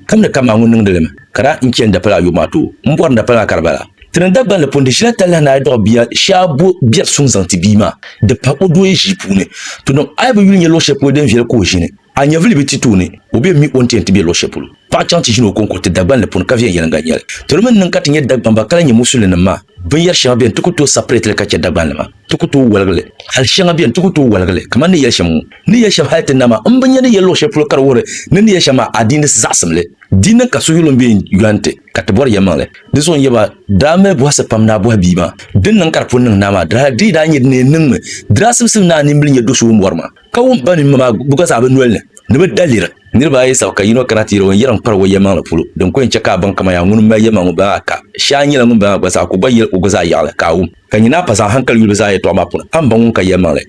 Kam ni kam maa ŋun niŋdi li mi, ka daa n chɛn dapal ayɔbu maa tooi m-bɔri ni dapal maa ka di bala. Ti ni Dagbanli pun di shili atalihi ni a yi dɔɣi bia shɛa bo biɛri suŋ zaŋ ti bia maa, di pa o dooya ʒii puuni. Ti niŋ a yi bi yuli nya luɣ shɛli polo din viɛli ka o ʒini, a nyɛvili bi ti tooni, o bɛn mi o ni ti yɛn ti be luɣ shɛli polo paɣ chaŋ ti ʒini o kɔŋko ti Dagbanli puni ka viɛnyɛliŋga nya li. Ti di mi ni niŋ ka ti nyɛ Dagbamba ka lahi nyɛ Musulin nim maa, binyɛri shɛŋa beni ti ku tooi sapirɛtili ka chɛ Dagbanli maa. ti ku tooi woligi li. Hal shɛŋa beni ti ku tooi woligi li, kamani ni yɛli shɛm ŋɔ. Ni yɛli shɛm hal ti nama m bi nya ni yɛli luɣ shɛli polo ka di wuhiri ni ni yɛli shɛm maa adiini zaɣisimli. Di niŋ ka suhuyulim be n yɔn ti ka ti bɔri yɛlimaŋli. Dinzuɣu n yaba daa mali bɔhisi pam ni a bɔhi bia maa din niŋ ka di pun niŋ naa maa diri hal di yi daa nyɛ din ni niŋ mi di daa simsim naa nimbili nyɛ do so ŋun bɔri maa ka wum ba mini ma maa gba zaa bɛ noli ni ni bɛ daliri. Niriba ayi sabi ka yino kana ti yɛli o ni yɛri n-kpari o yɛlimaŋli polo. Din ku yɛn chɛ ka a baŋ kaman yaa ŋuni m-mali yɛlimaŋ ŋun bala maa ka shee a nyɛla ŋun bala maa gba zaa ka o gba yɛli o gba zaa yaɣili ka a wum. Ka nyini a pa zaŋ haŋkali yuli bɛ zaa yɛtɔɣa maa puuni, a ni ba ŋun ka yɛlimaŋli.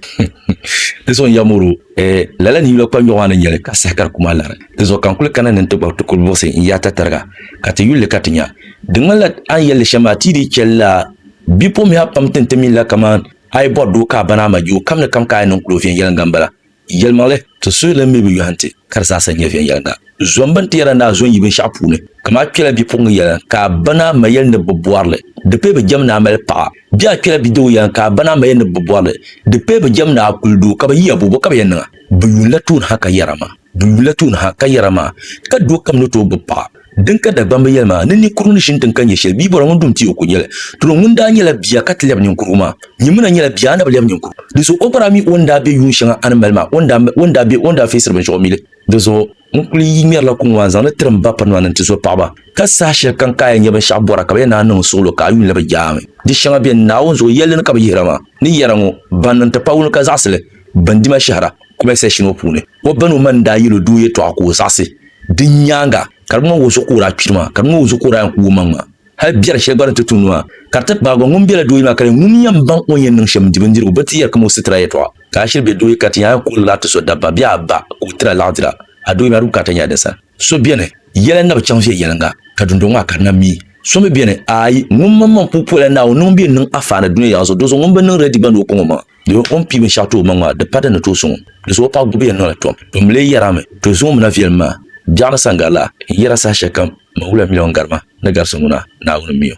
Dinzuɣu n yɛm o doo, Ee, lala ninyula kpannyɔɣu maa ni nya li, ka saha ka di kum a lari. Dinzuɣu ka n kuli kana ni n ti gbabi ti kuli buɣisi n yaata tariga, ka ti yuli li ka ti nya. Di ŋmanila a ni yɛli li shɛm maa ti yi dii chɛ lala bipuɣimbihi a pam ti ni ti mi li la kaman a yi bɔri doo ka a bani a ma juukamni kam ka a yɛn niŋ kuli o viɛnyɛliŋga m-bala. Yɛlimaŋli, ti suhi lan mi bi yɔhi nti ka di zaasa nyɛ viɛnyɛliŋga. Zom bini ti yɛra ni a zo n-yi binshɛɣu puuni, kaman a kpela bipuɣiŋga yɛla ka a ba ni a ma yɛli ni bɛ bɔri li, di pee bi jɛm ni a mali paɣa. Bɛ a kpela bidoo yɛla ka a ba ni a ma yɛli ni bɛ bɔri li, di pee bi jɛm ni a kuli doo ka bɛ yiya bo, bɔ ka bɛ yɛn niŋ a? Bɛ yuun la tooni ha ka yɛra maa, bɛ yuun la tooni ha ka yɛra maa, ka doo kam ni tooi gbibi paɣa. Din ka Dagbamba yɛli maa, ni ninkurugu ni ʒini din ka nyɛ shɛli, bia bɔra ŋun dum ti o ko nyɛli. Dolo ŋun daa nyɛla bia ka ti lɛbi ninkurugu maa, nyimina nyɛla bia a na bi lɛbi ninkurugu. Di zuɣu o bara mi o ni daa be yuun shɛŋa a ni mali maa, o ni daa be o ni daa feesiri binshɛɣu mi li. Di zuɣu n kuli yi ŋmɛrila kuŋ waa n-zaŋ li tiri m ba pirinima ni n-ti zo paɣiba, ka saha shɛli kam ka a yɛn nya binshɛɣu bɔra ka bɛ yɛn naan niŋ n suɣilo ka a yuun labi jaa mi. Di shɛŋa beni, Naawuni zuɣu yɛlli ni ka bɛ yihira maa, ni yɛra ŋɔ, Ban niŋ ti pawuni ka zaɣisi li, bɛ ni di ma shɛhira. Comment section ŋɔ puuni o bani o mani daa yɛl o doo yɛtɔɣa ka o zaɣisi. Din nyaaŋa, ka di ŋmani wunsu ka o daa kpiri maa, ka di ŋmani wunsu ka o daa yɛn kuui omaŋ maa. Hal biɛri shɛli gba ni ti tu nuu maa, ka di ti kpaagi ba ŋun bela dooye maa ka di nyɛ ŋun yɛn baŋ o ni yɛn niŋ shɛm n-di bindirigu bee ti yɛri kam o sitira yɛtɔɣa. Ka a shiri be dooye ka ti nya a yɛn kuhiri lala ti so dabba bee a ba ka o tiri a laɣidira, a dooye maa di bukaata nyɛla din sani. So beni, yɛla n-na bi chaŋ viɛnyɛliŋga, ka dundɔŋ maa ka di na mi. So mi beni, aai, ŋun maŋmaŋ puu puhila Naawuni ni ŋun bi yɛn niŋ afaana duniya yaɣa zuɣu, dinzuɣu ŋun bi niŋ rɛdi gba ni o kɔŋ omaŋ. Di o ni pii binshɛɣu ti omaŋ maa, di pa di ni tooi sɔŋ o. Di zuɣu o paɣ gubi ya noli tom. Bɛ mi lee yɛrami, To zuŋɔ mi na viɛlim maa, biɛɣu ni saŋgari la, n yɛra saha shɛli kam man wula miliɔn garima ni garisi ŋuna, Naawuni m-mi o.